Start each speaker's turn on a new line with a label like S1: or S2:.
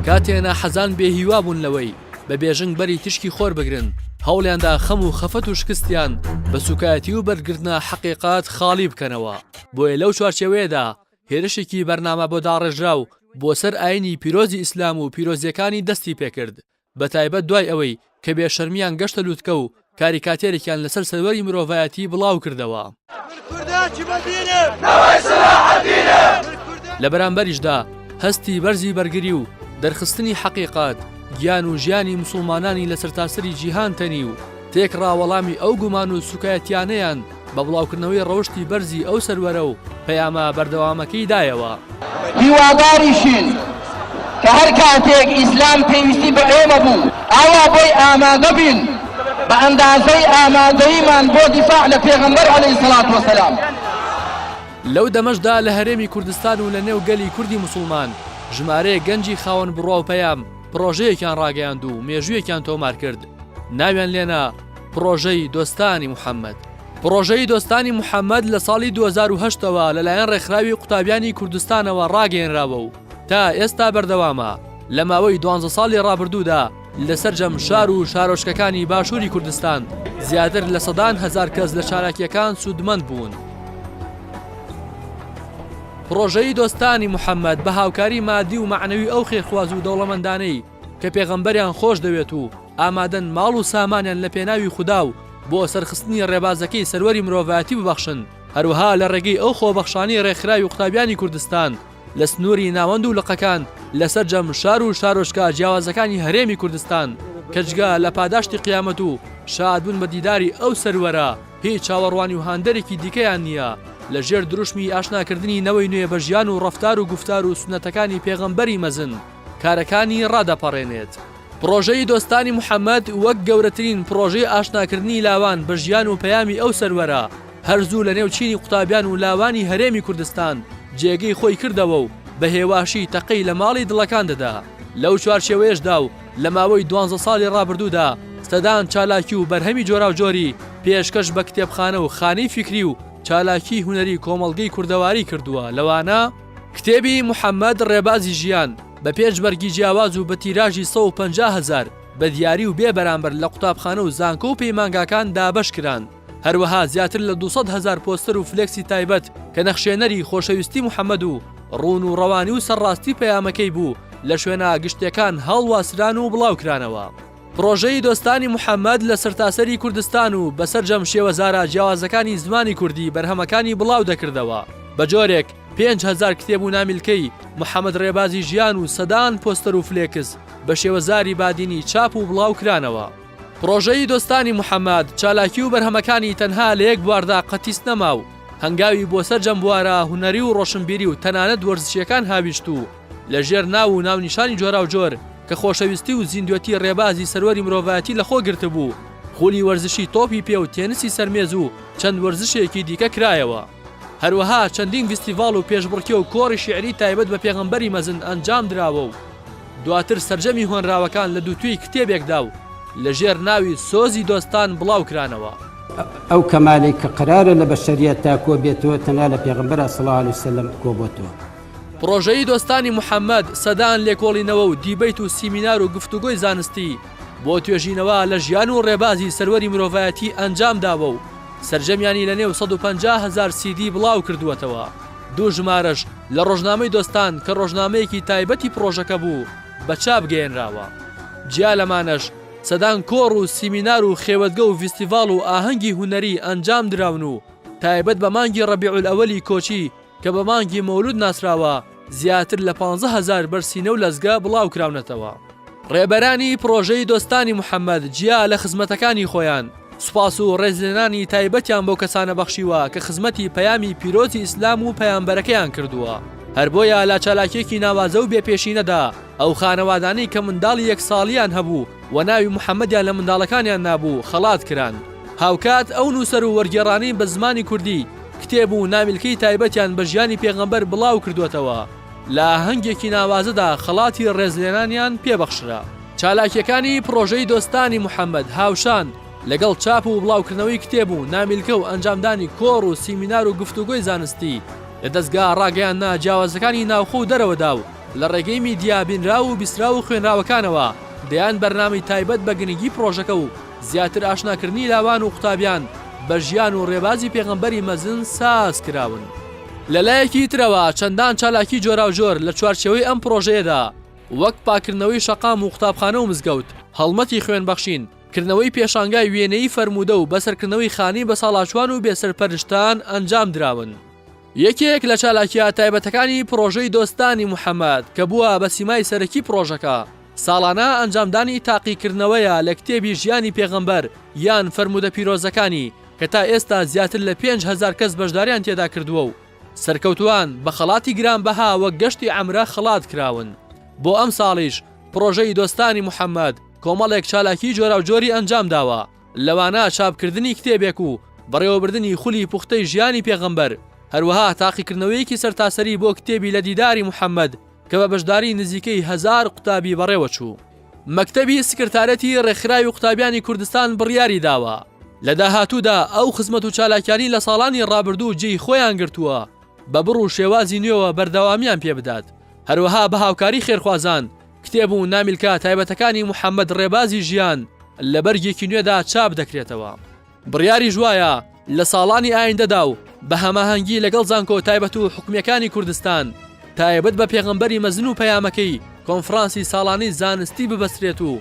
S1: کاتێ ناحەزان بێ هیوا بوون لەوەی بە بێژنگ بەری تشکی خۆر بگرن هەوڵیاندا خەم و خەفەت و شکستیان بە سوکایەتی و بەرگرتنا حەقیقات خاڵی بکەنەوە بۆیە لەو چوارچەوەیەدا هێرشێکی بەرنامە بۆ داڕێژراو بۆ سەر ئاینی پیرۆزی ئیسلام و پیرۆزیەکانی دەستی پێکرد بە تایبەت دوای ئەوەی کە بێ شەرمیان گەشتە لوتکە و کاریکاتێرێکیان لەسەر سەروەری مرۆڤایەتی بڵاو کردەوە. لە بەرامبەریشدا هەستی بەرزی بەرگری و دەرخستنی حەقیقەت، گیان و ژیانی موسڵمانانی لە سەرتاسەری جیهان تەنی و تێکڕا وەڵامی ئەو گومان و سوکایەتیانەیان بە بڵاوکردنەوەی ڕەوشتی بەرزی ئەو سەروەرە و پەیامە بەردەوامەکەی دایەوە. هیواداریشین
S2: کە هەر کاتێک ئیسلام پێویستی بە ئێمە بوو، ئاوا بۆی ئامادە بین، بە ئەندازەی ئامادەییمان بۆ دیفاع لە پێغەمبەر علیە الصلوة و سلام.
S1: لەو دەمەشدا لە هەرێمی کوردستان و لە نێو گەلی کوردی موسوڵمان ژمارەیەک گەنجی خاوەن بڕوا و پەیام پڕۆژەیەکیان ڕاگەیاند و مێژوویەکیان تۆمار کرد ناویان لێنا، پڕۆژەی دۆستانی محەممەد پڕۆژەی دۆستانی محەممەد لە ساڵی 2008 ەوە لەلایەن ڕێکخراوی قوتابیانی کوردستانەوە ڕاگەێنراوە و تا ئێستا بەردەوامە لە ماوەی دوانزە ساڵی ڕابردوودا لە سەرجەم شار و شارۆچکەکانی باشووری کوردستان زیاتر لە سەدان هزار کەس لە چالاکیەکان سوودمەند بوون. پڕۆژەی دۆستانی محەممەد بە هاوکاری مادی و معنەوی ئەو خێرخواز و دەوڵەمەندانەی کە پێغەمبەریان خۆش دەوێت و ئامادەن ماڵ و سامانیان لە پێناوی خودا و بۆ سەرخستنی ڕێبازەکەی سەروەری مرۆڤایەتی ببەخشن، هەروەها لە ڕێگەی ئەو خۆبەخشانەی ڕێکخراوی قوتابیانی کوردستان لە سنووری ناوەند و لقەکان لە سەرجەم شار و شارۆچکە جیاوازەکانی هەرێمی کوردستان کە جگە لە پاداشتی قیامەت و شادبوون بە دیداری ئەو سەروەرە هیچ چاوەڕوانی و هاندەرێکی دیکەیان نییە لە ژێر دروشمی ئاشناکردنی نەوەی نوێ بە ژیان و ڕەفتار و گوفتار و سوننەتەکانی پێغەمبەری مەزن کارەکانی ڕادەپەڕێنێت. پڕۆژەی دۆستانی محەمەد وەک گەورەترین پڕۆژەی ئاشناکردنی لاوان بە ژیان و پەیامی ئەو سەروەرە، هەر زوو لەنێو چینی قوتابیان و لاوانی هەرێمی کوردستان جێگەی خۆی کردەوە و بە هێواشی تەقەی لە ماڵی دڵەکان دەدا. لەو چوارچێوەیەشدا و لە ماوەی دوانزە ساڵی ڕابردوودا سەدان چالاکی و بەرهەمی جۆراوجۆری پێشکەش بە کتێبخانە و خانەی فیکری و چالاکیی هونەری کۆمەڵگەی کوردەواری کردووە، لەوانە. کتێبی محەمەد ڕێبازی ژیان بە پێنج بەرگی جیاواز و بە تیراژی سەد و پەنجا هەزار بە دیاری و بێ بەرامبەر لە قوتابخانە و زانکۆ و پەیمانگاکان دابەش کران. هەروەها زیاتر لە دوو سەد هەزار پۆستەر و فلێکسی تایبەت کە نەخشێنەری خۆشەویستی محەمەد و ڕوون و ڕەوانی و سەرڕاستی پەیامەکەی بوو لە شوێنە گشتیەکان هەڵواسران و بڵاوکرانەوە. پڕۆژەی دۆستانی محەمەد لە سەرتاسەری کوردستان و بە سەرجەم شێوەزارە جیاوازەکانی زمانی کوردی بەرهەمەکانی بڵاو دەکردەوە، بە جۆرێک پێنج هەزار کتێب و نامیلکەی محەمەد ڕێبازی ژیان و سەدان پۆستەر و فلێکس بە شێوەزاری بادینی چاپ و بڵاو کرانەوە. پڕۆژەی دۆستانی محەمەد چالاکی و بەرهەمەکانی تەنها لە یەک بواردا قەتیس نەما و هەنگاوی بۆ سەرجەم بوارە هونەری و ڕۆشنبیری و تەنانەت وەرزشییەکان هاویشت و لە ژێر ناو و ناونیشانی جۆراوجۆر کە خۆشەویستی و زیندوێتی ڕێبازی سەروەری مرۆڤایەتی لە خۆ گرتبوو، خولی وەرزشی تۆپی پێ و تێنسی سەر مێز و چەند وەرزشێکی دیکە کرایەوە. هەروەها چەندین ڤیستیڤاڵ و پێشبڕکێ و کۆڕی شیعری تایبەت بە پێغەمبەری مەزن ئەنجام دراوە و دواتر سەرجەمی هۆنراوەکان لە دووتوێی کتێبێکدا و لە ژێر ناوی سۆزی دۆستان بڵاو کرانەوە. ئەو
S3: کەمالەی کە قەرارە لە بەشەریەتدا کۆ بێتەوە تەنها لە پێغەمبەرا صلی اللە علیە وسلم کۆ بۆتەوە. پڕۆژەیی
S1: دۆستانی محەمەد، سەدان لێکۆڵینەوە و دیبەیت و سیمینار و گفتوگۆی زانستی بۆ توێژینەوە لە ژیان و ڕێبازی سەروەری مرۆڤایەتی ئەنجام داوە و سەرجەمیانی لە نێو سەد و پەنجا هەزار سیدی بڵاو کردووەتەوە. دوو ژمارەش لە ڕۆژنامەی دۆستان کە ڕۆژنامەیەکی تایبەتی پڕۆژەکە بوو، بە چاپ گەیەنراوە. جیا لەمانەش، سەدان کۆڕ و سیمینار و خێوەتگە و ڤیستیڤاڵ و ئاهەنگی هونەری ئەنجام دراون و تایبەت بە مانگی ڕەبیعولئەوەلی کۆچی کە بە مانگی مەولود ناسراوە، زیاتر لە پانزە هەزار بەر سینە و لەزگە بڵاوکراونەتەوە. ڕێبەرانی پڕۆژەی دۆستانی محەمەد جیا لە خزمەتەکانی خۆیان، سوپاس و ڕێزلێنانی تایبەتیان بەو کەسانە بەخشیوە کە خزمەتی پەیامی پیرۆزی ئیسلام و پەیامبەرەکەیان کردووە، هەر بۆیە لە چالاکییەکی ناوازە و بێپێشینەدا ئەو خانەوادانەی کە منداڵی یەک ساڵیان هەبوو و ناوی محەمەدیان لە منداڵەکانیان نابوو خەڵات کران. هاوکات ئەو نووسەر و وەرگێڕانەی بە زمانی کوردی، کتێب و نامیلکەی تایبەتیان بە ژیانی پێغەمبەر بڵاو کردووەتەوە، لە ئاهەنگێکی ناوازەدا خەڵاتی ڕێزلێنانیان پێ بەخشرا. چالاکییەکانی پڕۆژەی دۆستانی محەمەد هاوشان لەگەڵ چاپ و بڵاوکردنەوەی کتێب و نامیلکە و ئەنجامدانی کۆڕ و سیمینار و گفتوگۆی زانستی لە دەزگا ڕاگەیاندنە جیاوازەکانی ناوخۆ و دەرەوەدا و لە ڕێگەی میدیا بینراو و بیستراو و خوێنراوەکانەوە دەیان بەرنامەی تایبەت بە گرنگی پڕۆژەکە و زیاتر ئاشناکردنی لاوان و قوتابیان بە ژیان و ڕێبازی پێغەمبەری مەزن ساز کراون. لە لایەکی ترەوە چەندان چالاکی جۆراوجۆر لە چوارچێوەی ئەم پڕۆژەیەدا وەک پاککردنەوەی شەقام و قوتابخانە و مزگەوت، هەڵمەتی خوێن بەخشین، کردنەوەی پێشانگای وێنەیی فەرموودە و بەسەرکردنەوەی خانەی بەساڵاچوان و بێسەرپەرشتان ئەنجام دراون. یەکێک لە چالاکییە تایبەتەکانی پڕۆژەی دۆستانی محەمەد کە بووە بە سیمای سەرەکی پڕۆژەکە، ساڵانە ئەنجامدانی تاقیکردنەوەیە لە کتێبی ژیانی پێغەمبەر یان فەرموودە پیرۆزەکانی کە تا ئێستا زیاتر لە پێنج هەزار کەس بەشداریان تێدا کردووە و سەرکەوتووان بە خەڵاتی گرانبەها وەک گەشتی عەمرە خەڵات کراون. بۆ ئەمساڵیش پڕۆژەی دۆستانی محەمەد کۆمەڵێک چالاکیی جۆراوجۆری ئەنجامداوە، لەوانە چاپکردنی کتێبێک و بەڕێوەبردنی خولی پوختەی ژیانی پێغەمبەر، هەروەها تاقیکردنەوەیەکی سەرتاسەری بۆ کتێبی لە دیداری محەممەد کە بە بەشداری نزیکەی هەزار قوتابی بەڕێوەچوو. مەکتەبی سکرتارێتی ڕێکخراوی قوتابیانی کوردستان بڕیاری داوە لە داهاتوودا ئەو خزمەت و چالاکیانەی لە ساڵانی ڕابردوو جێی خۆیان گرتووە بە بڕ و شێوازی نوێوە بەردەوامیان پێبدات، هەروەها بە هاوکاری خێرخوازان، کتێب و نامیلکە تایبەتەکانی محەمەد ڕێبازی ژیان لە بەرگێکی نوێدا چاپ دەکرێتەوە. بڕیاریش وایە لە ساڵانی ئایندەدا و بە هەماهەنگی لەگەڵ زانکۆ تایبەت و حکومییەکانی کوردستان تایبەت بە پێغەمبەری مەزن و پەیامەکەی کۆنفرانسی ساڵانەی زانستی ببەسترێت و